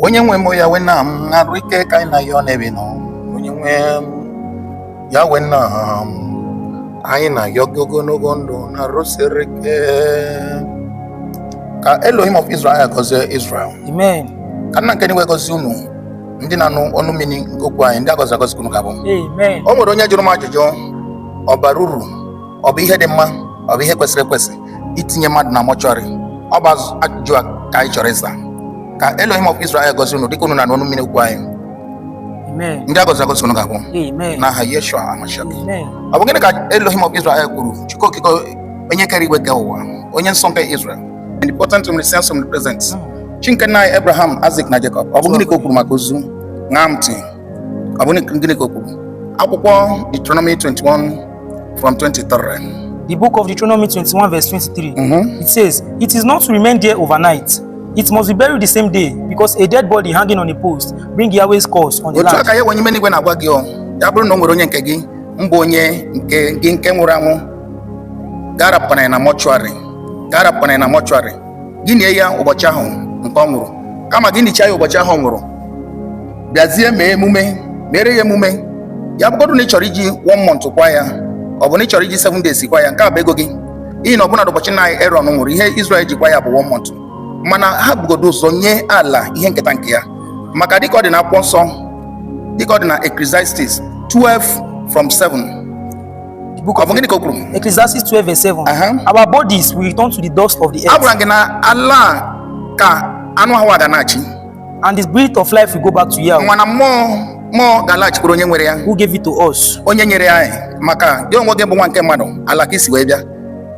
onye nwe m Yahweh nna m arụ ike ka anyị na-ayọ n'ebe ị nọ onye nwe m Yahweh nna m anyị na-ayọ gị ogologo ndụ na arụ siri ike ka Elohim of Israel gọzie Israel Amen. ka nna nke enigwe gọzie unu ndị na-anụ ọnụ mmiri nke okwu anyị ndị agọzi agọzi ka unu ga-abụ Amen. o nwere onye jụrụ m ajụjụ ọ bara uru ọ bụ ihe dị mma ọ bụ ihe kwesịrị ekwesị itinye mmadụ na mọchụarị ọ bụ azụ- ajụjụ a ka anyị chọrọ ịza ka Elohim of Israel gọzie unu dịka unu na-anụ ọnụ mmiri okwu anyị Amen. ndị a gọziri agọzi unu ga-abụ Amen. n'aha Yeshua Hamashiach Amen. ọ bụ gịnị ka Elohim of Israel kwuru Chukwu okike onye kere igwe kee ụwa onye nsọ nke Israel omnipotent omniscient omnipresent chi nke nna anyị Abraham Isaac na Jacob ọ bụ gịnị ka o kwuru maka ozu ṅaa ntị ọ bụ gịnị ka o kwuru akwụkwọ Deuteronomy 21 From 23. The book of Deuteronomy 21, verse 23. Mm-hmm. It says, It is not to remain there overnight. It must be buried the same day because a dead body hanging on a post bring Yahweh's curse on the land. Otu a ka Yahweh n'ime enigwe na-agwa gị ọ ya bụrụ na o nwere onye nke gị mbụ onye nke gị nke nwụrụ anwụ gị arapụkwana ya na mọchụarị gị arapụkwana ya na mọchụarị gị nie ya ụbọchị ahụ nke ọ nwụrụ kama gị nichaa ya ụbọchị ahụ ọ nwụrụ bịazie mee emume mere ya emume ya bụgodu na ị chọrọ iji one month kwaa ya ọ bụ na ị chọrọ iji seven days kwaa ya nke a bụ ego gị n'ihi na ọbụna ụbọchị na Aaron nwụrụ ihe Israel ji kwaa ya bụ one month mana ha bugodo ụzọ nye ala ihe nketa nke ya maka dịka ọ dị na akwụkwọ nsọ dịka ọ dị na Ecclesiastes 12 from 7 The book of Ọ bụ gịnị ka o kwuru? Ecclesiastes 12 verse 7. Aha. Our bodies will return to the dust of the earth, A gwara gị na ala a ka anụ ahụ a ga-anachi. and the breath of life will go back to Yahweh, Mana mmụọ mmụọ ga-alaghachikwuru onye nwere ya. who gave it to us. Onye nyere ya anyị maka gị onwe gị bụ nwa nke mmadụ ala ka i si wee bịa.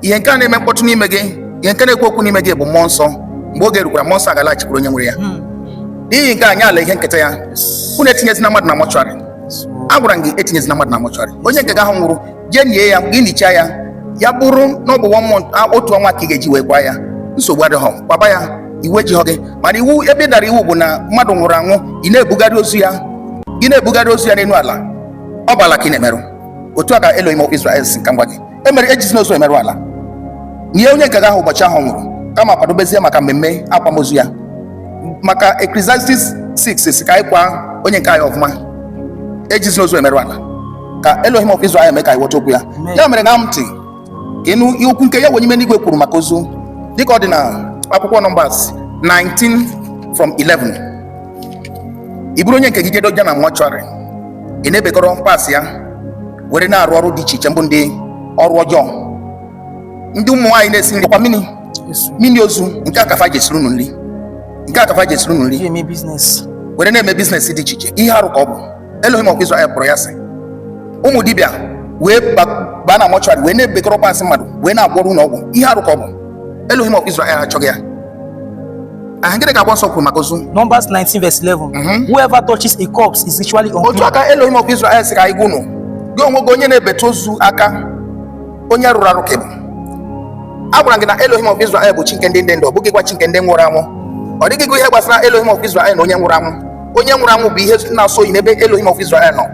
Ihe nke a na-eme mkpọtụ n'ime gị, ihe nke na-ekwu okwu n'ime gị bụ mmụọ nsọ. Mgbe oge rukwara mmụọ nsọ a ga-alaghachikwuru onye nwere ya. N'ihi nke a nye ala ihe nketa ya. Unu etinyezina mmadụ na mọchụarị. agwara m gị etinyezina mmadụ na mọchụarị onye nke gị ahụ nwụrụ jee nie ya gị nichaa ya ya bụrụ na ọ bụ one month a- otu ọnwa ka ị ga-eji wee kwaa ya nsogbu adịghọ kwaba ya iwu ejighọ gị mana iwu ebe ị dara iwu bụ na mmadụ nwụrụ anwụ ị na-ebugharị ozu ya ị na-ebugharị ozu ya n'elu ala ọ bụ ala ka ị na-emerụ otu a ka Elohim of Israel sị ka m gwa gị ya mere ejizina ozu emerụ ala nie onye nke gị ahụ ụbọchị ahụ ọ nwụrụ kama kwadobezie maka mmemme akwamozu ya maka Ecclesiastes 6 sị ka anyị kwaa onye nke anyị ọfụma ejizina ozu emerụ ala ka Elohim of Israel mee ka anyị ghọta okwu ya ya mere ṅaa ntị ka ị nụ okwu nke Yahweh n'ime enigwe kwuru maka ozu dịka ọ dị na akwụkwọ Numbers 19 from 11 i buru onye nke gị jee dowe na mọchụarị ị na-ebekọrọ parts ya were na-arụ ọrụ dị iche iche mbụ ndị ọrụ ọjọọ ndị ụmụ nwaanyị na-esi nri kwa mini mini ozu nke a ka fa ji esiri unu nri nke a ka fa ji esiri unu nri were na-eme business dị iche iche ihe arụ ka ọ bụ Elohim of Israel kpọrọ ya asị ụmụ dibịa wee baa na mortuary wee na-ebekọrọ parts mmadụ wee na-agwọrọ unu ọgwụ ihe arụ ka ọ bụ Elohim of Israel achọghị ya aha gịnị ka akwụkwọ nsọ kwuru maka ozu Numbers 19 verse 11 mhm. whoever touches a corpse is ritually unclean. otu a ka Elohim of Israel sị ka anyị gwa unu gị onwe gị onye na-ebetụ ozu aka onye rụrụ arụ ka ị bụ a gwara gị na Elohim of Israel bụ chi nke ndị dị ndụ ọ bụghịkwa chi nke ndị nwụrụ anwụ ọ dịghịkwa ihe gbasara Elohim of Israel na onye nwụrụ anwụ onye nwụrụ anwụ bụ ihe na-asọ oyi n'ebe Elohim of Israel nọ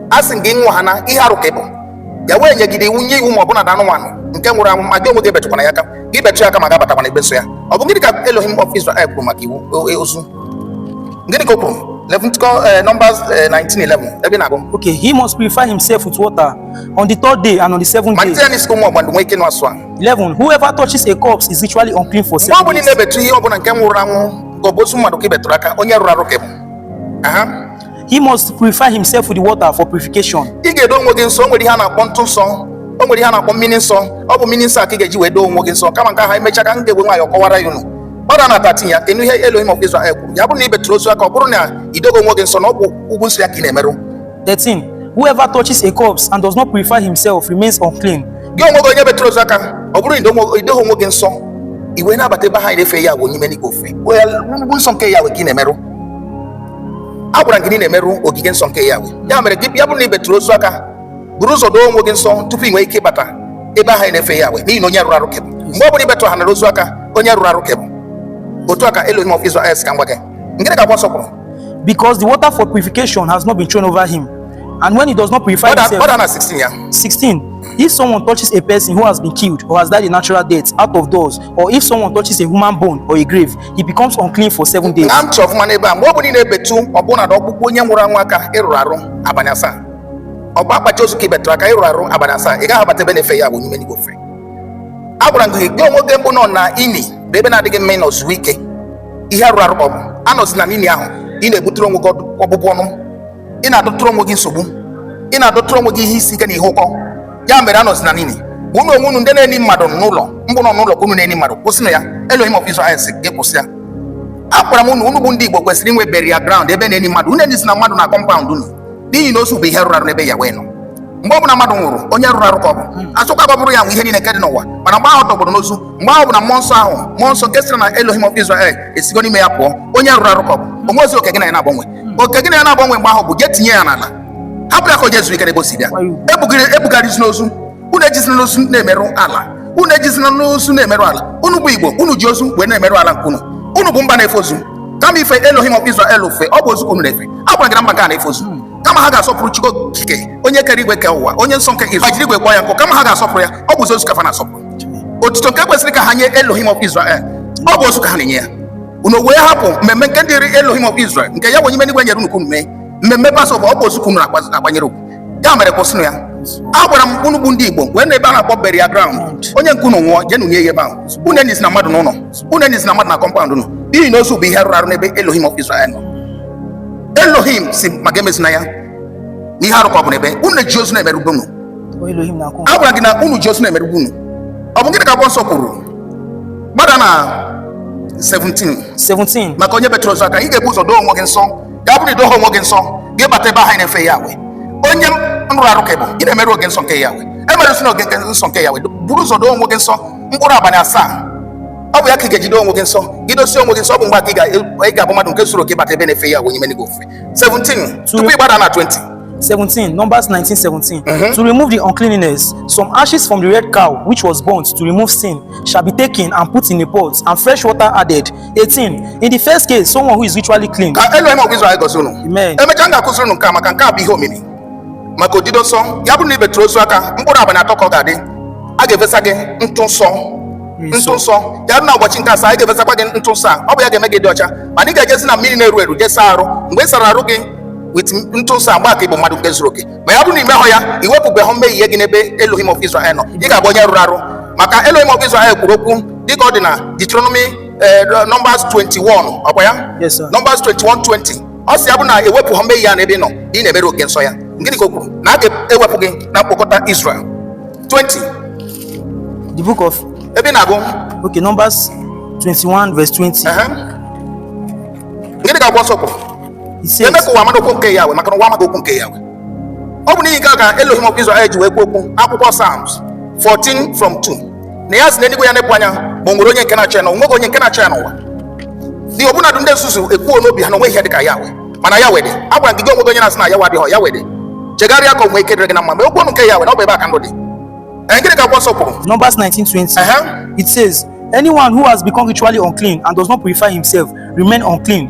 a sị gị gwa ha na ihe arụ ka ọ bụ ya wee nyegide iwu nye iwu ma ọbụna na anụmanụ nke nwụrụ anwụ ma gị onwe gị ebetụkwana ya aka gị betụ ya aka ma gị abatakwana ebe nsọ ya ọ bụ gịnị ka Elohim of Israel kwuru maka iwu e, ozu gịnị ka o kwuru Leviticus uh, Numbers uh, 19:11 ebe na-agụ okay he must purify himself with water on the third day and on the seventh day malite ya n'isi ụmụ ọgbandụ nwee ike nụ asụ a 11 whoever touches a corpse is ritually unclean for seven days mgbe ọ bụla ị na-ebetụ ihe ọ bụla nke nwụrụ anwụ aka ọ bụ ozu mmadụ ka ị betụrụ aka onye rụrụ arụ ka ị bụ He must purify himself with the water for purification. Ị ga-edo onwe gị nsọ, o nwere ihe a na-akpọ ntụ nsọ. O nwere ihe a na-akpọ mmiri nsọ. Ọ bụ mmiri nsọ a ka ị ga-eji wee doo onwe gị nsọ. Kama nke ahụ e mechaa ka m ga-ewere nwayọọ kọwara ya unu. Gbada na 13 ya, kedu ihe Elohim of Israel kwuru. Ya bụrụ na ị betụrụ ozu aka, ọ bụrụ na ị doghị onwe gị nsọ na ọ bụ ugwu nsọ ya ka ị na-emerụ. 13. Whoever touches a corpse and does not purify himself remains unclean. Gị onwe gị onye betụrụ ozu aka, ọ bụrụ na ị doghị onwe gị nsọ, ị wee na-abata ebe a na-efe ya bụ onye ime n'igwe ofe. Ugwu nsọ nke ya wee ka ị na-emerụ. a gwara gị na ị na-emerụ ogige nsọ nke ya ya mere gị ya bụrụ na ị betụrụ ozu aka buru ụzọ doo onwe gị nsọ tupu ị nwee ike ịbata ebe ahụ a na-efe ya n'ihi na onye rụrụ arụ ka ị bụ mgbe ọ bụla ị betụ ha nara ozu aka onye rụrụ arụ ka ị bụ otu a ka Elohim of Israel ka m gwa gị gịnị ka akwụkwọ nsọ kwuru because the water for purification has not been thrown over him and when he does not purify himself gbada na 16 ya 16 If someone touches a person who has been killed or has died a natural death out of doors, or if someone touches a human bone or a grave, he becomes unclean for seven days. Ṅaa ntị ọfụma n'ebe a mgbe ọ bụla ị na-ebetụ ọbụna na ọkpụkpụ onye nwụrụ anwụ aka ị rụrụ arụ abalị asaa ọ bụ akpachi ozu ka ị betụrụ aka ị rụrụ arụ abalị asaa ị gaghị abata ebe a na-efe ya bụ onye ime n'igwe ofe a gwara gị gị onwe gị mbụ nọ na ini bụ ebe na-adịghị mma ịnọ zuo ike ihe rụrụ arụ ọ bụ anọzina n'ini ahụ ị na-ebutere onwe gị ọbụbụ ọnụ ị na-adọtụrụ onwe gị nsogbu ị na-adọtụrụ onwe gị ihe isi ike na ihe ụkọ ya mere anọzina n'ini unu onwe unu ndị na-eni mmadụ n'ụlọ mbụ nọ n'ụlọ ka unu na-eni mmadụ kwụsịnụ ya Elohim of Israel sị gị kwụsị ya agwara m unu unu bụ ndị Igbo kwesịrị inwe burial ground ebe a na-eni mmadụ unu enizina mmadụ na compound unu n'ihi na ozu bụ ihe rụrụ arụ n'ebe ya wee nọ mgbe ọ bụla mmadụ nwụrụ onye rụrụ arụ ka ọ bụ a sịkwa ka ọ bụrụ ya nwe ihe niile nke dị n'ụwa mana mgbe ahụ ọ tọgbọrọ n'ozu mgbe ahụ bụ na mmụọ nsọ ahụ mmụọ nsọ nke siri na Elohim of Israel esigo n'ime ya pụọ onye rụrụ arụ ka ọ bụ o nwerozi oke gị na ya na-agbanwe oke gị na ya na-agbanwe mgbe ahụ bụ je tinye ya n'ala hapụ ya ka o je zuru ike n'ebe o si bịa ebugharịzina ozu unu ejizina ozu na-emerụ ala unu ejizina ozu na-emerụ ala unu bụ Igbo unu ji ozu wee na-emerụ ala nke unu unu bụ mba na-efe ozu kama ife Elohim of Israel ofe ọ bụ ozu ka unu na-efe a gwara gị na mba ga na-efe ozu kama ha ga-asọpụrụ Chukwu okike onye kere igwe kee ụwa onye nsọ nke Israel jiri igwe kpọọ ya nkụ kama ha ga-asọpụrụ ya ọ bụzi ozu ka fa na-asọpụrụ otuto nke kwesịrị ka ha nye Elohim of Israel ọ bụ ozu ka ha na-enye ya unu wee hapụ mmemme nke dịrị Elohim of Israel nke Yahweh onye nwe igwe nyere unu ka unu mee mmemme Passover ọ bụ ozu ka unu na-akwanyere ugwu ya mere kwụsịnụ ya a gwara m unu bụ ndị Igbo nweenụ ebe a na-akpọ burial ground onye nke unu nwụọ jeenụ nie ya ebe ahụ unu enizina mmadụ n'ụlọ unu enizina mmadụ na compound unu n'ihi na ozu bụ ihe rụrụ arụ n'ebe Elohim of Israel nọ Elohim sị m ka emezina ya na ihe arụ ka ọ bụ n'ebe unu ji ozu na-emerụ be unu a gwara gị na unu ji ozu na-emerụ be unu ọ bụ gịnị ka akwụkwọ nsọ kwuru gbada na 17 17 maka onye betụrụ ozu aka ị ga-ebu ụzọ doo onwe gị nsọ ya bụrụ idohọ onwe gị nsọ gị bata ebe ahụ a na-efe Yahweh onye rụrụ arụ ka ị bụ ị na-emerụ oge nsọ nke Yahweh emerụzina oge nke nsọ nke Yahweh buru ụzọ doo onwe gị nsọ mkpụrụ abalị asaa ọ bụ ya ka ị ga-eji doo onwe gị nsọ gị dosịa onwe gị nsọ ọ bụ mgbe a ka ị ga- ị ga-abụ mmadụ nke zuru oke bata ebe a na-efe Yahweh onye nwe igwe ofufe 17 tupu ị gbada na 20 17 Numbers 19 17 to remove the uncleanness some ashes from the red cow which was burnt to remove sin shall be taken and put in a pot and fresh water added. 18. In the first case, someone who is ritually clean. Ka Elohim of Israel gọzie unu. Amen. Emecha m ga-akụziri unu nke a maka nke a bụ ihe omimi. Maka odido nsọ, ya bụrụ na ibetụrụ ozu aka, mkpụrụ abalị atọ ka ọ ga-adị. A ga-efesa gị ntụ nsọ. Ntụ nsọ. Ya bụrụ na ụbọchị nke asaa, a ga-efesakwa gị ntụ nsọ a. Ọ bụ ya ga-eme gị dị ọcha. Mana ị ga-ejezi na mmiri na-eru eru, jee saa arụ. Mgbe ị sara arụ gị, with ntụ nsọ mgbe a ka ị bụ mmadụ nke zuru oke ma ya bụrụ na imehọ ya iwepụbehọ mmehie gị n'ebe Elohim of Israel nọ ị ga-abụ onye rụrụ arụ maka Elohim of Israel kwuru okwu dịka ọ dị na Deuteronomy eh, Numbers 21 ọkwa ya Numbers 21 20 ọ sị ya bụrụ na ewepụhọ mmehie ya n'ebe ị nọ ị na-emerụ oge nsọ ya gịnị ka o kwuru na a ga-ewepụ gị na mkpokọta Israel 20 the book of ebe na-agụ okay Numbers 21 verse 20 gịnị ka akwụkwọ nsọ kwuru eme ka ụwa mara okwu nke Yahweh maka na ụwa amaghị okwu nke Yahweh ọ bụ n'ihi nke a ka Elohim of Israel ji wee kwuo okwu akwụkwọ Psalms 14 from 2 na ya si n'eluigwe ya nepụ anya ma o nwere onye nke na-achọ ya na onweghị onye nke na-achọ ya n'ụwa dị ọbụnadụ ndị nzuzu ekwuo n'obi ha na onwehọ ihe dị ka Yahweh mana Yahweh dị a gwara gị gị onwe gị onye na-asị na Yahweh adịhọ Yahweh dị chegharịa ka o nwee ike dịrị gị na mma ma okwu ọnụ nke Yahweh na ọ bụ ebe a ka ndụ dị Ee, gịnị ka akwụkwọ nsọ kwuru Numbers 19:20. Ehe. It says, Anyone who has become ritually unclean and does not purify himself remain unclean.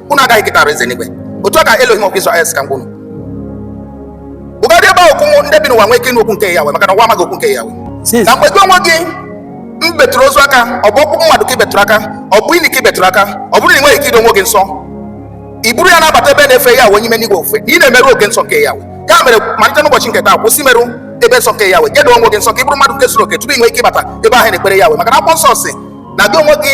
unu agaghị eketa alaeze n'igwe otu a ka Elohim of Israel sị ka m gwa unu gụgodị ebe ahụ ka unu bụ ndị bi n'ụwa nwee ike ịnụ okwu nke Yahweh maka na ụwa amaghị okwu nke Yahweh na mgbe gị onwe gị mbetụrụ ozu aka ọ bụ ọkpụkpụ mmadụ ka ị betụrụ aka ọ bụ ini ka ị betụrụ aka ọ bụrụ na ị nweghị ike ido onwe gị nsọ i buru ya na-abata ebe a na-efe Yahweh onye ime n'igwe ofufe na ị na-emerụ ebe nsọ nke Yahweh ya mere malite n'ụbọchị nke taa kwụsị imerụ ebe nsọ nke Yahweh je doo onwe gị nsọ ka ị bụrụ mmadụ nke zuru oke tupu ị nwee ike ịbata ebe a na-ekpere Yahweh maka na akwụkwọ nsọ sị na gị onwe gị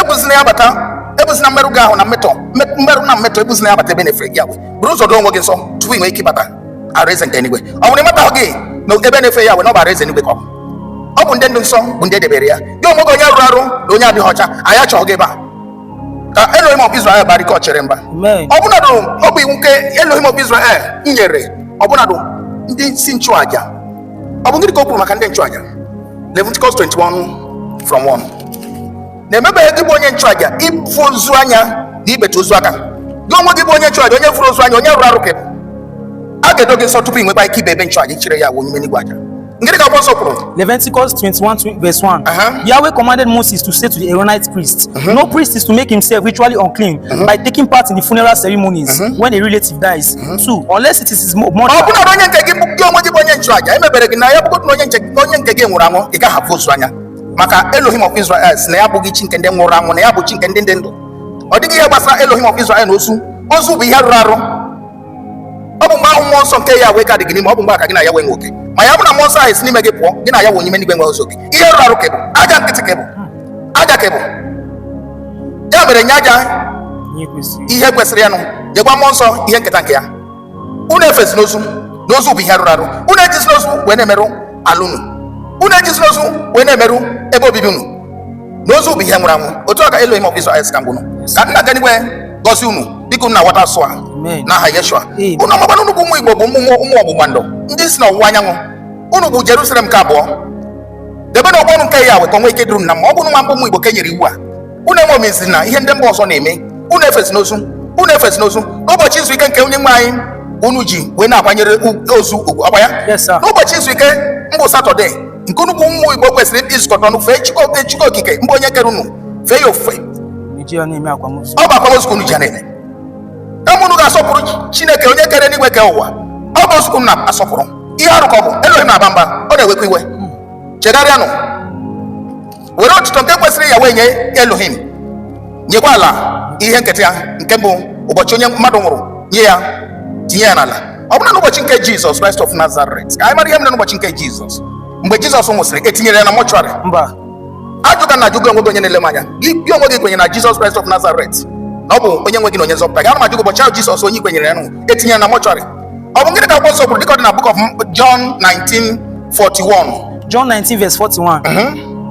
ebuzina ya bata ebuzina mmerụ gị ahụ na mmetọ mmerụ na mmetọ ebuzina ya bata ebe a na-efe Yahweh bụrụ ụzọ doo onwe gị nsọ tupu ị nwee ike ịbata alaeze nke eluigwe ọ bụrụ na ị mataghị na ebe a na-efe Yahweh na ọ bụ alaeze eluigwe ka ọ bụ ọ bụ ndị ndụ nsọ bụ ndị edebere ya gị onwe gị onye rụrụ arụ na onye adịghị ọcha anyị achọghị gị ebe a ka Elohim of Israel baara ike ọchịchịrị mba ọbụnadụ ọ bụ iwu nke Elohim of Israel nyere ọbụnadụ ndị isi nchụaja ọ bụ gịnị ka o kwuru maka ndị nchụaja Leviticus 21 from 1 na emebeghị gị bụ onye nchụaja ịfụ ozu anya na ịbetụ ozu aka gị onwe gị bụ onye nchụaja onye fụrụ ozu anya onye rụrụ arụ ka ị bụ a ga-edo gị nsọ tupu ị nwekwa ike ije ebe nchụaja ịchụrụ Yahweh onye ime n'igwe aja gịnị ka akwụkwọ nsọ kwuru Leviticus 21 tw- verse 1. Uh-huh. Yahweh commanded Moses to say to the Aaronite priests, No priest is to make himself ritually unclean by taking part in the funeral ceremonies when a relative dies. two unless it is his mother ọ bụrụ na onye nke gị bụ gị onwe gị bụ onye nchụaja emebere gị na ya bụgodị na onye nche na onye nke gị nwụrụ anwụ ị gaghị afụ ozu anya maka Elohim of Israel sị na ya abụghị chi nke ndị nwụrụ anwụ na ya bụ chi nke ndị dị ndụ ọ dịghị ihe gbasara Elohim of Israel na ozu ozu bụ ihe rụrụ arụ ọ bụ mgbe ahụ mmụọ nsọ nke Yahweh ka dị gị n'ime ọ bụ mgbe a ka gị na Yahweh nwe oke ma ya bụ na mmụọ nsọ ahụ si n'ime gị pụọ gị na Yahweh onye ime n'igwe enwezighị oke ihe rụrụ arụ ka ị bụ aja nkịtị ka ị bụ aja ka ị bụ ya mere nye aja ihe kwesịrị ya nụ nyekwa mmụọ nsọ ihe nketa nke ya unu efezina ozu na ozu bụ ihe rụrụ arụ unu ejizina ozu wee na-emerụ ala unu unu ejizina ozu wee na-emerụ ebe obibi unu na ozu bụ ihe nwụrụ anwụ otu a ka Elohim of Israel sị ka m gwa unu ka nna dị n'igwe gọzie unu dịka unu na-aghọta ozi a n'aha Yeshua ụmụ ọgbụgba ndụ unu bụ ụmụ Igbo bụ ụmụ ọgbụgba ndụ ndị si n'ọwụwa anyanwụ unu bụ Jerusalem nke abụọ debenụ okwu ọnụ nke Yahweh ka unu nwee ike dụrụ na mma ọ bụ unu nwa mbụ ụmụ Igbo ka e nyere iwu a unu eṅomizina ihe ndị mba ọzọ na-eme unu efezina ozu unu efezina ozu n'ụbọchị izu ike nke onye nwe anyị unu ji wee na-akwanyere ozu ugwu akwa ya n'ụbọchị izu ike mbụ satọde nke unu bụ ụmụ Igbo kwesịrịnụ izukọta ọnụ fee Chukwu okike mbụ onye kere unu fee ya ofufe ọ bụ akwamozu ka unu ji na-eme kama unu ga-asọpụrụ chineke onye kere enigwe kee ụwa ọ bụ ozu ka unu na-asọpụrụ ihe arụ ka ọ bụ elohim na-aba mba ọ na-ewekwa iwe chegharịanụ were otuto nke kwesịrị Yahweh nye elohim nyekwa ala ihe nketa ya nke mbụ ụbọchị onye mmadụ nwụrụ nie ya tinye ya n'ala ọ bụrụ na n'ụbọchị nke jizọs kraịst of nazaret ka anyị mara ihe mere n'ụbọchị nke jizọs mgbe jizọs nwụsịrị e tinyere ya na mọchụarị mba ajụka na-ajụ gị onwe gị onye na-ele m anya gị gị onwe gị i kwenyere na Jizọs Kraịst of Nazaret na ọ bụ onye nwe gị na onye nzọpụta gị ana m ajụ gị ụbọchị ahụ Jizọs onye i kwenyere ya nwụrụ etinyere na mortuary ọ bụ gịnị ka akwụkwọ nsọ kwuru dịka ọ dị na book of John 19:41 John 19, verse 41.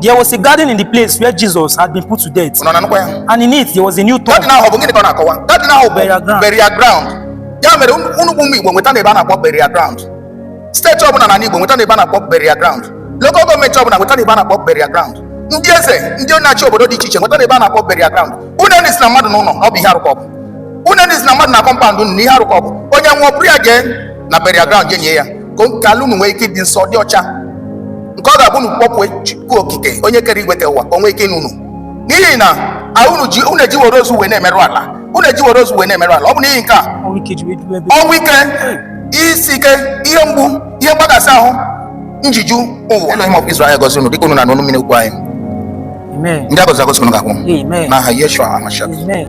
There was a garden in the place where Jesus had been put to death, unu na-anụkwa ya and in it there was a new tomb. garden ahụ ọ bụ gịnị ka ọ na-akọwa garden ahụ bụ Burial ground. burial ground ya mere unu bụ ụmụ Igbo nwetanụ ebe a na-akpọ burial ground state ọbụla na Igbo nwetanụ ebe a na-akpọ burial ground local government ọbụla nwetanụ ebe a na-akpọ burial ground ndị eze ndị na-achị obodo dị iche iche nwetanụ ebe a na-akpọ burial ground unu enizina mmadụ n'ụlọ ọ bụ ihe arụ ka ọ bụ unu enizina mmadụ na compound unu na ihe arụ ka ọ bụ onye nwụọ buru ya jee na burial ground jee nie ya ka ala unu nwee ike ịdị nsọ dị ọcha nke ọ ga-abụ unu kpọkuo chukwu okike onye kere igwe kee ụwa ka o nwee ike ịnụ unu n'ihi na unu ji unu ejiwere ozu wee na-emerụ ala unu ejiwere ozu wee na-emerụ ala ọ bụ n'ihi nke a ọnwụ ike isi ike ihe mgbu ihe mgbakasị ahụ ji eju ụwa Elohim of Israel gọzie unu dịka unu nọ n'ọnụ mmiri okwu anyị ndị a gọziri agọzi unu ga-abụ n'aha Yeshua Hamashiach